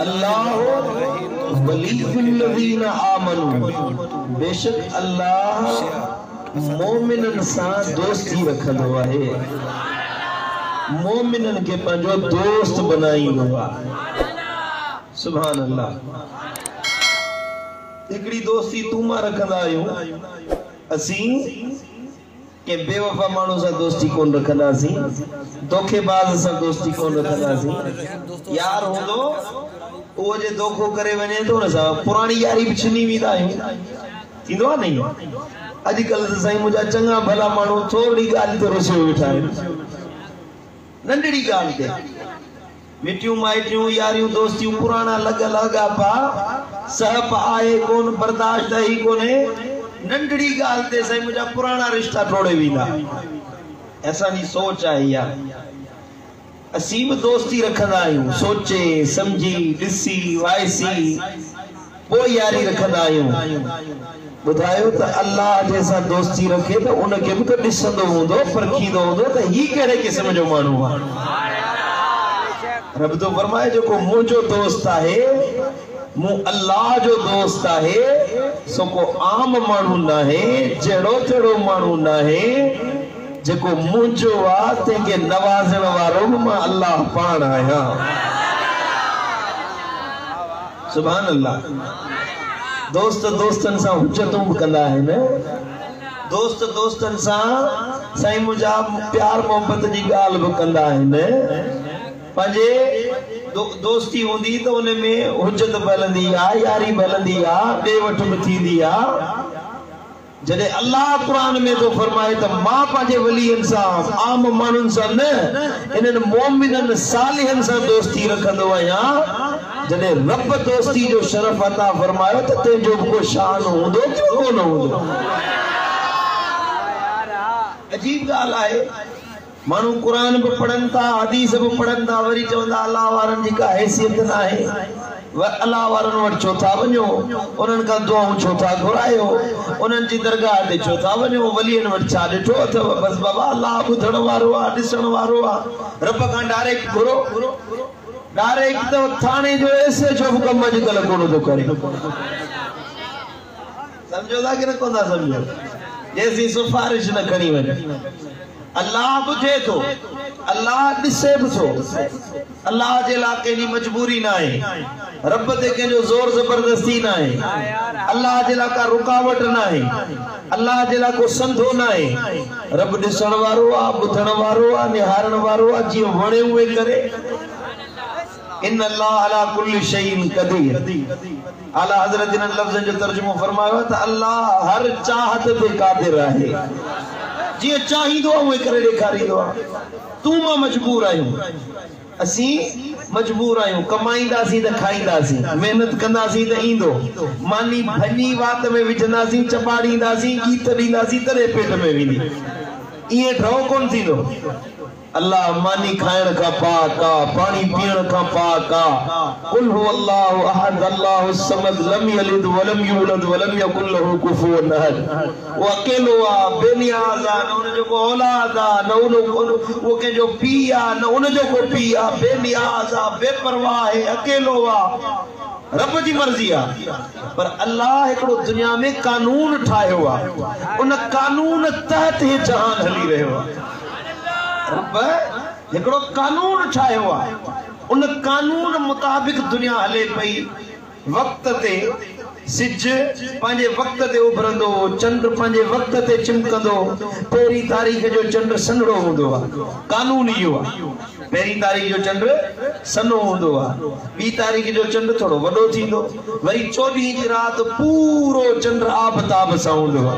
الله ولي الذين آمنو بيشڪ الله مؤمنن سان دوستي رکندو آهي مؤمنن کي پنهنجو دوست بنائيندو آ سبحان الله هڪڙي دوستي تون مان رکندا آهيون اسين ڪنهن بي وفا ماڻهو سان دوستي ڪونه رکنداسين، دوکي باز سان دوستي ڪونه رکنداسين، يار هوندو اهو جي دوکو ڪري وڃي ته ان سان پراڻي ياري به ڇني ويندا آهيون، ٿيندو آهي نه ايئن، اڄڪلهه ته سائين منهنجا چڱا ڀلا ماڻهو ٿورڙي ڳالهه تي رسيو ويٺا آهن، ننڍڙي ڳالهه تي. مٽيون مائٽيون، ياريون دوستيون، پراڻا لڳ لهڳاپا، سهپ آهي ڪونه، برداشت اهي ڪونهي، ننڍڙي ڳالهه تي سائين منهنجا پراڻا رشتا ٽوڙي ويندا. اسان جي سوچ آهي اها. اسين به دوستي رکندا آهيون، سوچي، سمجهي، ڏسي، وائسي. پوء ياري رکندا آهيون. ٻڌايو ته الله جنهن سان دوستي رکي ته ان کي به ته ڏسندو هوندو، پرکيندو هوندو ته هي ڪهڙي قسم جو ماڻهو آهي. رب ٿو فرمائي جيڪو منهنجو دوست آهي، مون الله جو دوست آهي، سو ڪو عام ماڻهو ناهي، جهڙو تهڙو ماڻهو ناهي، جيڪو منهنجو آ تنهن کي نوازڻ وارو به مان الله پاڻ آهيان. سبحان الله دوست دوستن سان حجتون به ڪندا آهن دوست دوستن سان سائين منهنجا پيار محبت جي ڳالهه به ڪندا آهن پنهنجي دوستي هوندي ته ان ۾ حجت به هلندي آهي ياري به هلندي آهي ڏي وٺ به ٿيندي آهي جڏهن الله قرآن ۾ ٿو فرمائي ته مان پنهنجي ولين سان، عام ماڻهن سان نه، انهن مؤمنن صالحن سان دوستي رکندو آهيان، جڏهن رب دوستي جو شرف عطا فرمايو ته تنهن جو به ڪو شان هوندو ڪيو ڪونه هوندو. عجيب ڳالهه آهي. ماڻهو قرآن به پڙهن ٿا حديث به پڙهن ٿا وري چون ٿا الله وارن جي ڪا حيثيت ناهي الله وارن وٽ ڇو ٿا وڃو انهن کان دعائون ڇو ٿا گهرايو انهن جي درگاهه تي ڇو ٿا وڃو ولين وٽ ڇا ڏٺو اٿو بس بابا الله ٻڌڻ وارو آهي ڏسڻ وارو آهي رب کان ڊائريڪٽ گهرو ڊائريڪٽ ته ٿاڻي جو ايس ايڇ او به ڪم اڄڪلهه ڪونه ٿو ڪري سمجهو ٿا ڪنه ڪو ٿا سمجهو جيسين سفارش نه کڻي وڃي الله ٻڌي ٿو الله ڏسي به ٿو الله جي لا ڪنهن جي مجبوري نه آهي رب تي ڪنهن جو زور زبردستي نه آهي الله جي لا ڪا رڪاوٽ نه آهي الله جي لا ڪو سنڌو نه آهي رب ڏسڻ وارو آ ٻڌڻ وارو آ نهارڻ وارو آ جيئن وڻي اوئي ڪري ان الله علي ڪل شيء قدير اعليٰ حضرت انهن لفظن جو ترجمو فرمايو ته الله هر چاهت تي قادر آهي جيئن چاهيندو آهي اونئين ڪري ڏيکاريندو آهي تون مان مجبور آهيون اسين مجبور آهيون ڪمائينداسين ته کائينداسين محنت ڪنداسين ته ايندو ماني ڀڃي وات ۾ وجهنداسين چٻاڙينداسين ڳيت ڏينداسين تڏهن پيٽ ۾ ويندي ايئن ڍؤ ڪونه ٿيندو الله ماني کائڻ کان پاڪ آ، پاڻي پيئڻ کان پاڪ آ. قل هو الله احد الله الصمد لم يلد ولم يولد ولم يڪن له کفوا احد اهو اڪيلو آ، بي نياز آ، نه ان جو ڪو اولاد آ، نه اهو ڪنهن جو پيء آ، نه ان جو ڪو پيء آ، بي نياز آ، بي پرواهه آهي، اڪيلو آ. رب جي مرضي آ پر الله هڪڙو دنيا ۾ قانون ٺاهيو آ، ان قانون تحت هي جهان هلي رهيو آ. رب هڪڙو قانون ٺاهيو آ ان قانون مطابق دنيا هلي پئي وقت تي سج پنهنجي وقت تي اڀرندو چنڊ پنهنجي وقت تي چمڪندو پهرين تاريخ جو چنڊ سنهڙو هوندو آ قانون اهو آ پهرين تاريخ جو چنڊ سنهو هوندو آ ٻي تاريخ جو چنڊ ٿورو وڏو ٿيندو وري چوڏهين جي رات پورو چنڊ آب تاب سان هوندو آ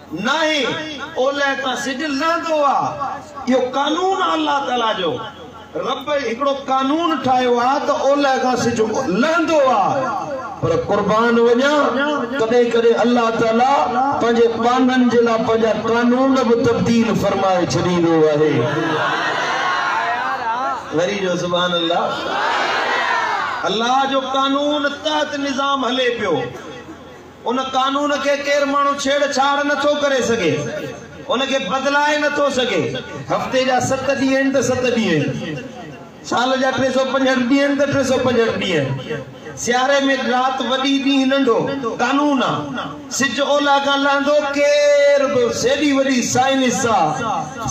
ناهي، اولهه تان سج لهندو آ. اهو قانون آ الله تعاليٰ جو. رب هڪڙو قانون ٺاهيو آ ته اولهه کان سج لهندو آ. پر قربان وڃان ڪڏهن ڪڏهن الله تعاليٰ پنهنجي ٻانهن جي لاء پنهنجا قانون به تبديل فرمائي ڇڏيندو آهي. وري چئو سبحان الله. الله جو قانون تحت نظام هلي پيو. ان قانون کي ڪير ماڻهو ڇيڙ ڇاڙ نه ٿو ڪري سگهي، ان کي بدلائي نه ٿو سگهي. هفتي جا ست ڏينهن آهن ته ست ڏينهن آهن، سال جا ٽي سؤ پنجهٺ ڏينهن آهن ته ٽي سؤ پنجهٺ ڏينهن آهن. سياري ۾ رات وڏي ڏينهن ننڍو، قانون آ. سج اولهه کان لهندو، ڪير به ايڏي وڏي سائنس آ،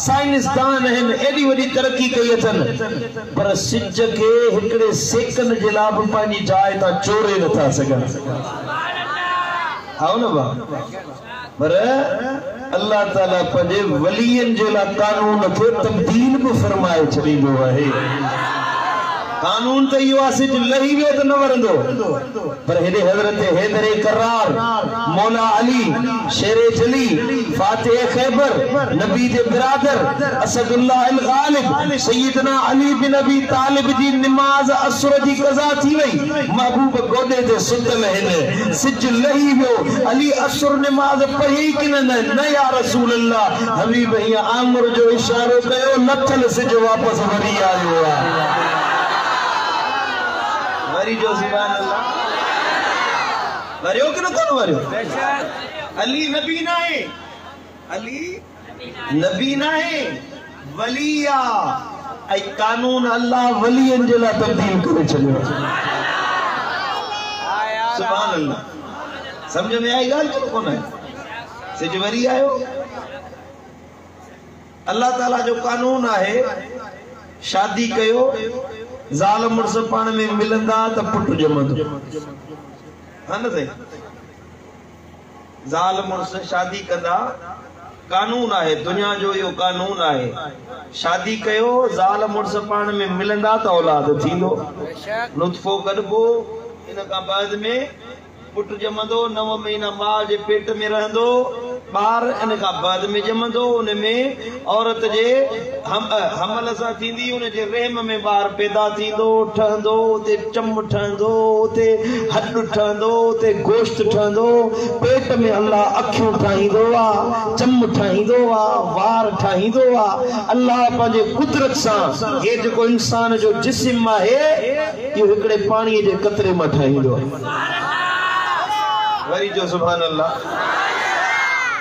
سائنسدان آهن، ايڏي وڏي ترقي ڪئي اٿن، پر سج کي هڪڙي سيڪنڊ جي لا به پنهنجي جاء تان چوري نه ٿا سگهن. ھا نه ھئا پر الله تعالي پنھنجي ولين جي لاء قانون کي تبديل به فرمائي ڇڏيندو آھي قانون ته اھو آھي سج لھي ويو ته نه ورندو پر ھيڏي حضرت حيدر ڪرار مولا علي شير جلي فاتح خيبر نبي جي برادر اسد الله الغالب سيدنا علي بن ابي طالب جي نماز عصر جي قضا ٿي وئي محبوب گوڏي تي ستل هن سج لهي ويو علي عصر نماز پڙهيئي ڪن نه نه يا رسول الله حبيب هيئن آڱر جو اشارو ڪيو لٿل سج واپس وري آيو وري چئو سبحان الله وريو ڪن ڪونه وريو علي نبي ناهي علي نبي ناهي ولي آ ۽ قانون الله ولين جي لاء تبديل ڪري ڇڏيو آ سبحان الله سمجھ ۾ آئي ڳالھ ڪي ڪونه آئي سج وري آيو الله تعالي جو قانون آهي شادي ڪيو زال مڙس پاڻ ۾ ملندا ته پٽ ڄمندو ها نه سائين زال مڙس شادي ڪندا قانون آهي دنيا جو اهو قانون آهي شادي ڪيو زال مڙس پاڻ ۾ ملندا ته اولاد ٿيندو نطفو ڪڍبو ان کان بعد ۾ پٽ ڄمندو نو مهينا ماء جي پيٽ ۾ رهندو ٻار ان کان بعد ۾ ڄمندو ان ۾ عورت جي حمل سان ٿيندي، ان جي رحم ۾ ٻار پيدا ٿيندو، ٺهندو، اتي چم ٺهندو، اتي هڏ ٺهندو، اتي گوشت ٺهندو، پيٽ ۾ الله اکيون ٺاهيندو آ، چم ٺاهيندو آ، وار ٺاهيندو آ، الله پنهنجي قدرت سان هي جيڪو انسان جو جسم آهي، اهو هڪڙي پاڻيء جي قطري مان ٺاهيندو آ. وري چئو سبحان الله.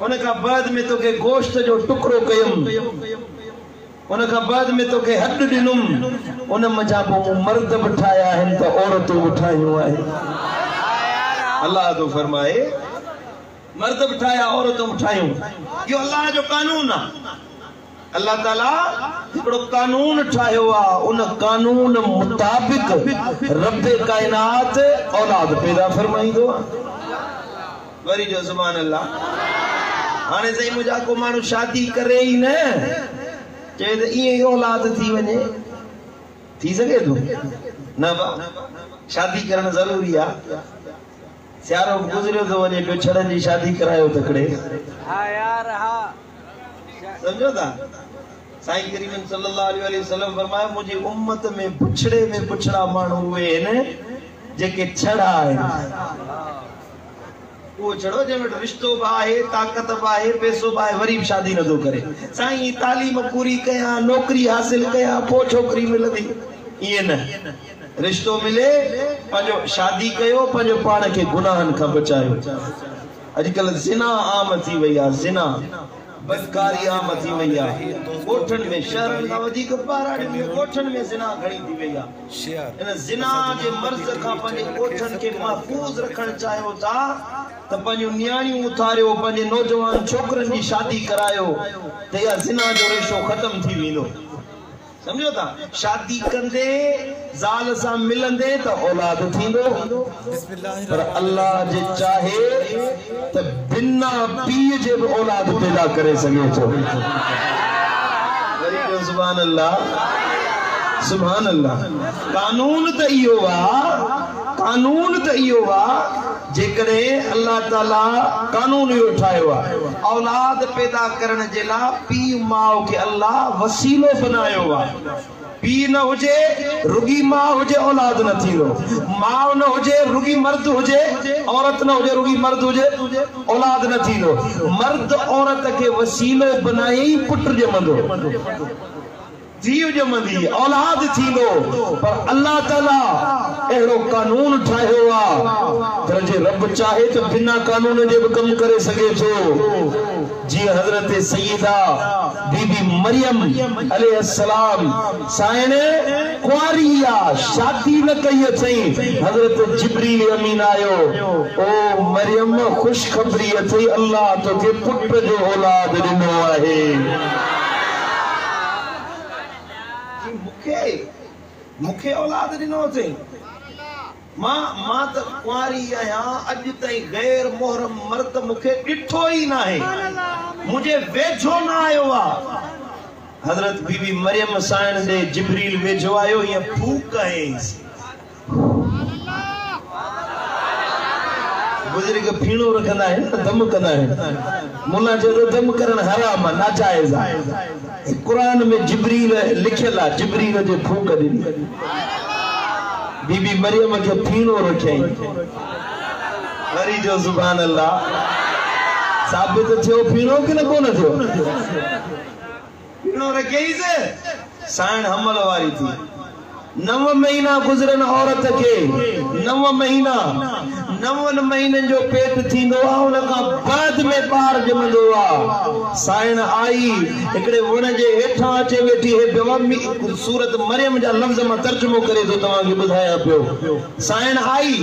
ان کان بعد ۾ توکي گوشت جو ٽڪرو ڪيم، ان کان بعد ۾ توکي هڏ ڏنم، ان منجهان پوء مون مرد به ٺاهيا آهن ته عورتون به ٺاهيون آهن. الله ٿو فرمائي، مرد به ٺاهيا عورتون به ٺاهيون. اهو الله جو قانون آهي. الله تعاليٰ هڪڙو قانون ٺاهيو آ، ان قانون مطابق رب ڪائنات اولاد پيدا فرمائيندو آ. وري چئو سبحان الله. هاڻي سائين منهنجا ڪو ماڻهو شادي ڪري ئي نه چئي ته ائين ئي اولاد ٿي وڃي. ٿي سگهي ٿو؟ نه با شادي ڪرڻ ضروري آ. سيارو به گذريو ٿو وڃي پيو ڇڙن جي شادي ڪرايو تڪڙي. سمجهو ٿا؟ سائين ڪريم صلي الله عليه واٰله وسلم فرمايو منهنجي امت ۾ بڇڙي ۾ بڇڙا ماڻهو اهي آهن جيڪي ڇڙا آهن. اهو ڇڙو جنهن وٽ رشتو به آهي، طاقت به آهي، پئسو به آهي وري به شادي نه ٿو ڪري. سائين تعليم پوري ڪيان، نوڪري حاصل ڪيان پوء ڇوڪري ملندي ائين نه. رشتو ملي پنهنجو شادي ڪيو پنهنجو پاڻ کي گناهن کان بچايو. اڄڪلهه زنا عام ٿي وئي آهي زنا بدڪاري عام ٿي وئي آهي ڳوٺن ۾ شهرن کان وڌيڪ ٻهراڙين ۾ ڳوٺن ۾ زنا گهڻي ٿي وئي آهي ان زنا جي مرض کان پنهنجي ڳوٺن کي محفوظ رکڻ چاهيو ٿا ته پنهنجون نياڻيون اٿاريو پنهنجي نوجوان ڇوڪرين جي شادي ڪرايو ته اها زنا جو ريشو ختم ٿي ويندو. سمجهو ٿا شادي ڪندي زال سان ملندي ته اولاد ٿيندو پر الله جي چاهي ته بنا پيء جي به اولاد پيدا ڪري سگهي ٿو وري چئو سبحان الله سبحان الله قانون ته اهو آ قانون ته اهو آ. جيڪڏهن الله تعاليٰ قانون اهو ٺاهيو آهي اولاد پيدا ڪرڻ جي لاء پيء ماء کي الله وسيلو بنايو آهي پيء نه هجي رڳي ماء هجي اولاد نه ٿيندو ماء نه هجي رڳي مرد هجي عورت نه هجي رڳي مرد هجي اولاد نه ٿيندو مرد عورت کي وسيلو بنائي ئي پٽ ڄمندو ڌيء ڄمندي اولاد ٿيندو پر الله تعالي اهڙو قانون ٺاهيو آ پر جي رب چاهي ته بنا قانون جي به ڪم ڪري سگهي ٿو جيئن حضرت سيده بي بي مريم عليه السلام سائڻ ڪنواري آ شادي نه ڪئي اٿئين حضرت جبريل امين آيو او مريم خوشخبري اٿئي الله توکي پٽ جو اولاد ڏنو آهي. جي مون کي مون کي اولاد ڏنو اٿئي. مان مان ته ڪنواري آهيان اڄ تائين غير محرم مرد مون کي ڏٺو ئي ناهي منهنجي ويجهو نه آيو آ. حضرت بي بي مريم سائڻ ڏي جبريل ويجهو آيو ائين ڦوڪ هنئيس. بزرگ ڦيڻو رکندا آهن ته دم ڪندا آهن. مولان چيو ته دم ڪرڻ حرام آهي، ناجائز آهي. قرآن ۾ جبريل لکيل آهي، جبريل جي ڦوڪ ڏني. بي بي مريم کي ڦيڻو رکيائين. وري چيو سبحان الله. ثابت ٿيو ڦيڻو ڪنه ڪونه ٿيو؟ نورگيز سائڻ حمل واري ٿي نو مهينا گذرن عورت کي نو مهينا نون مهينن جو پيٽ ٿيندو آ ان کان بعد ۾ ٻار ڄمندو آ سائڻ آئي هڪڙي وڻ جي هيٺان اچي ويٺي هي بيوا مي سورت مريم جا لفظ مان ترجمو ڪري ٿو توهان کي ٻڌايان پيو سائڻ آئي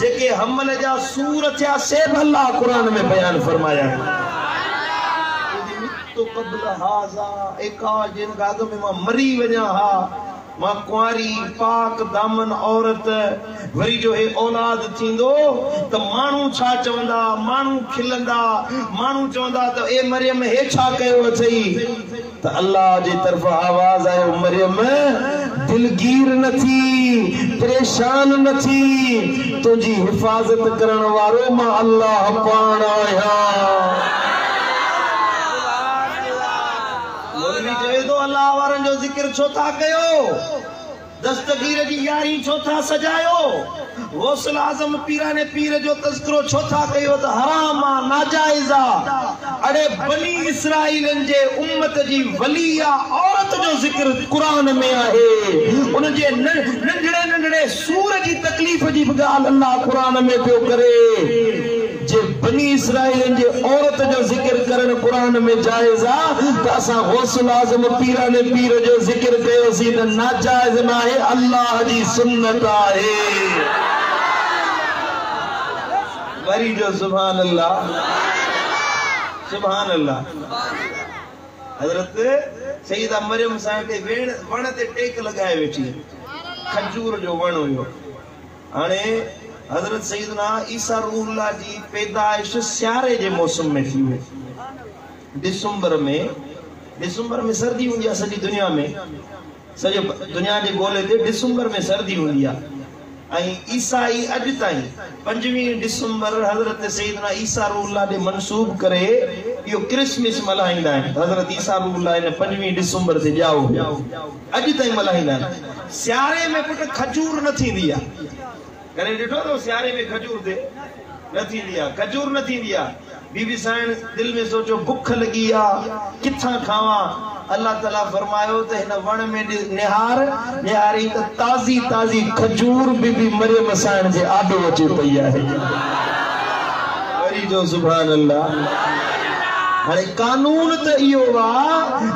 جيڪي حمل جا سور ٿيا سي به الله قرآن ۾ بيان فرمايا آهن. تو قبل هذا، اي ڪاش جنهن کان اڳ ۾ مان مري وڃان ها. مان ڪنواري، پاڪ دامن عورت. وري جو هي اولاد ٿيندو ته ماڻهو ڇا چوندا؟ ماڻهو کلندا. ماڻهو چوندا ته اي مريم هي ڇا ڪيو اٿئي؟ ته الله جي طرفان آواز آيو، مريم! دلگير نه ٿي، پريشان نه ٿي، تنهنجي حفاظت ڪرڻ وارو مان الله پاڻ آهيان. مولوي چوي ٿو الله وارن جو ذڪر ڇو ٿا ڪيو؟ دستگير جي يارهين ڇو ٿا سجايو؟ غوث الاعظم پيراڻي پير جو تذڪرو ڇو ٿا ڪيو ته حرام آ ناجائز آ اڙي بني اسرائيلن جي امت جي ولي يا عورت جو ذڪر قرآن ۾ آهي ان جي ننڍڙي ننڍڙي سور جي تڪليف جي به ڳالهه الله قرآن ۾ پيو ڪري جي بني اسرائيلين جي عورت جو ذڪر ڪرڻ قرآن ۾ جائز آ ته اسان غوث الاعظم پيران پير جو ذڪر ڪيوسين ته ناجائز ناهي الله جي سنت آهي وري چئو سبحان الله سبحان الله حضرت سيده مريم سائڻ تي ويڻ وڻ تي ٽيڪ لڳائي ويٺي کجور جو وڻ هيو هاڻي حضرت سيدنا عيسيٰ روح الله جي پيدائش سياري جي موسم ۾ ٿي هئي. ڊسمبر ۾ ڊسمبر ۾ سردي هوندي آهي سڄي دنيا ۾ سڄي دنيا جي گولي تي ڊسمبر ۾ سردي هوندي آهي ۽ عيسائي اڄ تائين پنجويهه ڊسمبر حضرت سيدنا عيسيٰ روح الله ڏي منسوب ڪري اهو ڪرسمس ملهائيندا آهن ته حضرت عيسيٰ روح الله ان پنجويهه ڊسمبر تي ڄائو هيو. اڄ تائين ملهائيندا آهن. سياري ۾ پٽ کجور نه ٿيندي آهي. ڪڏهن ڏٺو اٿو سياري ۾ کجور تي نه ٿيندي آهي. کجور نه ٿيندي آهي. بي بي سائڻ دل ۾ سوچيو بک لڳي آ ڪٿان کاوان. الله تعاليٰ فرمايو ته هن وڻ ۾ ڏس نهار. نهاريئي ته تازي تازي کجور بي بي مريم سائڻ جي آڏو اچي پئي آهي. وري چئو سبحان الله. هاڻي قانون ته اهو آ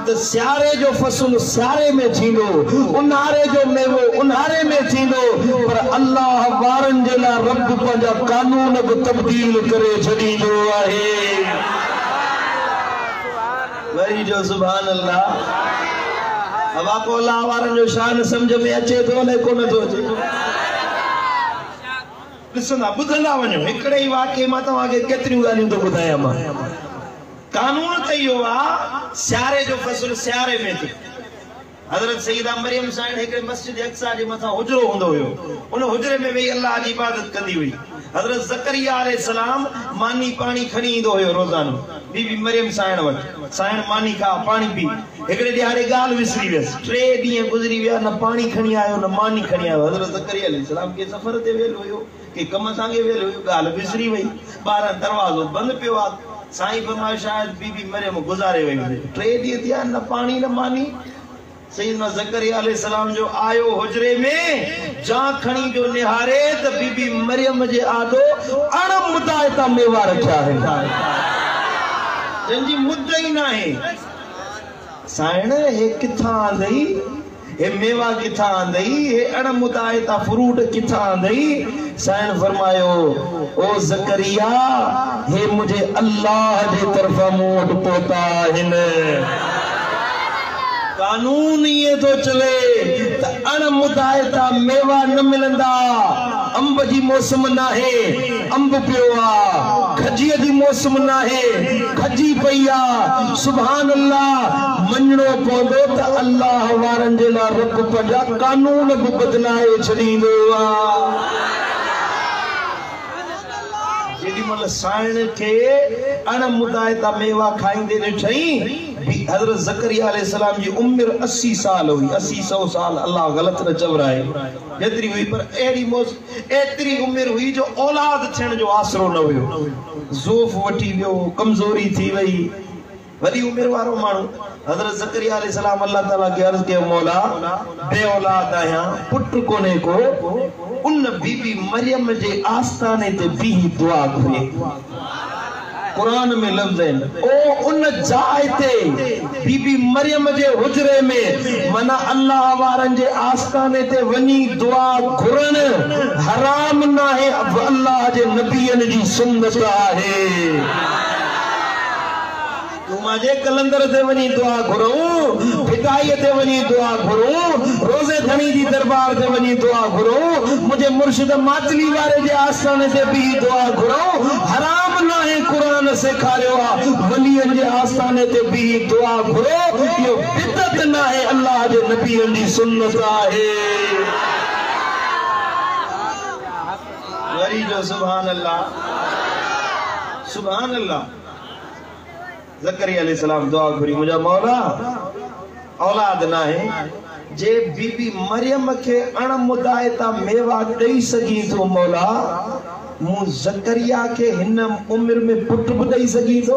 ته سياري جو فصل سياري ۾ ٿيندو، اونهاري جو ميوو اونهاري ۾ ٿيندو پر الله وارن جي لاء رب پنهنجا قانون به تبديل ڪري ڇڏيندو آهي. وري چئو سبحان الله. اوهان ڪو الله وارن جو شان سمجهه ۾ اچي ٿو الائي ڪونه ٿو اچي. ڏسندا ٻڌندا وڃو هڪڙي ئي واقعي مان توهان کي ڪيتريون ڳالهيون ٿو ٻڌايان مان قانون ته اهو آ سياري جو فصل سياري ۾ ٿئي حضرت سيده مريم سائڻ هڪڙي مسجد اقصيٰ جي مٿان حجرو هوندو هيو ان حجري ۾ ويهي الله جي عبادت ڪندي هئي حضرت زڪريا عليه السلام ماني پاڻي کڻي ايندو هيو روزانو بي بي مريم سائڻ وٽ سائڻ ماني کاء پاڻي پي هڪڙي ڏهاڙي ڳالهه وسري ويس. ٽي ڏينهن گذري ويا، نه پاڻي کڻي آيو، نه ماني کڻي آيو. حضرت زڪريا عليه السلام ڪنهن سفر تي ويل هيو، ڪنهن ڪم سانگي ويل هيو، ڳالهه وسري وئي. ٻاهران دروازو بند پيو آ. سائين فرمايو شايد بي بي مريم گذاري وئي هجي. ٽي ڏينهن ٿيا، نه پاڻي نه ماني. سيدنا زڪريا عليه السلام جو آيو حجري ۾ جان کڻي جو نهاري ته بي بي مريم جي آڏو اڻ مدائتا ميوا رکيا آهن. جن جي مد ئي ناهي. سائڻ هي ڪٿان آندئي؟ هي ميوا ڪٿان آندئي؟ هي اڻ مدائتا فروٽ ڪٿان آندئي؟ سائڻ فرمايو، او زڪريا! هي منهنجي الله جي طرفان مون وٽ پهتا آهن. قانون ائين ٿو چوي ته اڻ مدائتا ميوا نه ملندا. انب جي موسم ناهي. انب پيو آ کجيء جي موسم ناهي کجي پئي آ سبحان الله مڃڻو پوندو ته الله وارن جي لا رب پنهنجا قانون به بدلائي ڇڏيندو آ جيڏي مهل سائڻ کي اڻ مدائتا ميوا کائيندي ڏٺئين بي حضرت زڪريا عليه السلام جي عمر اسي سال هئي اسي سئو سال الله غلط نه چورائي جيتري هئي پر اهڙي موسم ايتري عمر هئي جو اولاد ٿيڻ جو آسرو نه هيو. ضعف وٺي ويو، ڪمزوري ٿي وئي. وڏي عمر وارو ماڻهو حضرت زڪريا عليه السلام الله تعاليٰ کي عرض ڪيو مولا بي اولاد آهيان، پٽ ڪونهي ڪو. ان بي بي مريم جي آستاني تي بيهي دعا گهري. قرآن ۾ لفظ آهن او ان جاء تي بي بي مريم جي حجري ۾ معنيٰ الله وارن جي آستاني تي وڃي دعا گهرڻ حرام ناهي اهو الله جي نبين جي سنت آهي. تون مانجي قلندر تي وڃي دعا گهرون، ڀٽائيء تي وڃي دعا گهرون، روزي ڌڻي جي درٻار تي وڃي دعا گهرون، منهنجي مرشد ماتلي واري جي آستاڻي تي بيهي دعا گهرون، حرام ناهي قرآن سيکاريو آ، ولين جي آستاڻي تي بيهي دعا گهرو، اهو بدعت ناهي الله جي نبين جي سنت آهي. وري چؤ سبحان الله سبحان الله. زڪريا عليه السلام دعا گهري منهنجا مولا اولاد ناهي جي بي بي مريم کي اڻ مدائتا ميوا ڏئي سگهين ٿو مولا مون زڪريا کي هن عمر ۾ پٽ به ڏئي سگهين ٿو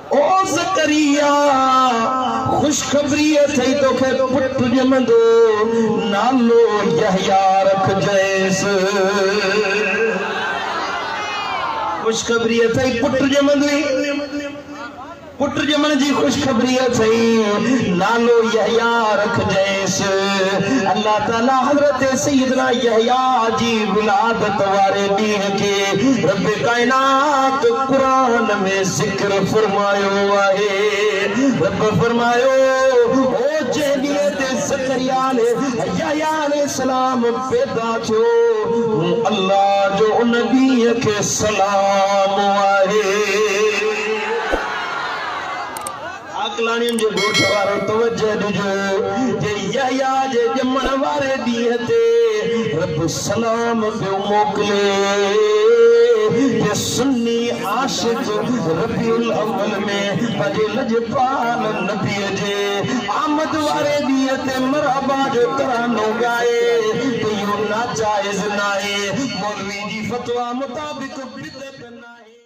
او زڪريا! خوشخبري اٿئي توکي پٽ ڄمندو، نالو يحيٰ رکجئيس. خوشخبري اٿئي پٽ ڄمندوئي. پٽ ڄمڻ جي خوشخبري اٿئي، نالو يحيٰ رکجئيس. الله تعاليٰ حضرت سيدنا يحيٰ جي ولادت واري ڏينهن کي رب ڪائنات قرآن ۾ ذڪر فرمايو آهي. رب فرمايو هو جنهن ڏينهن تي زڪريا عليه يحيٰ عليه السلام پيدا ٿيو مون الله جو ان ڏينهن کي سلام آهي. عاقلاڻين جي ڳوٺ وارو توجه ڏجو جي يحيٰ جي ڄمڻ واري ڏينهن تي رب سلام پيو موڪلي جي سني عاشق ربيع الاول ۾ پنهنجي لڄپال نبيء جي آمد واري ڏينهن تي مرحبا جو ترانو ڳائي ته اهو ناجائز ناهي مولوي جي فتويٰ مطابق بدعت ناهي.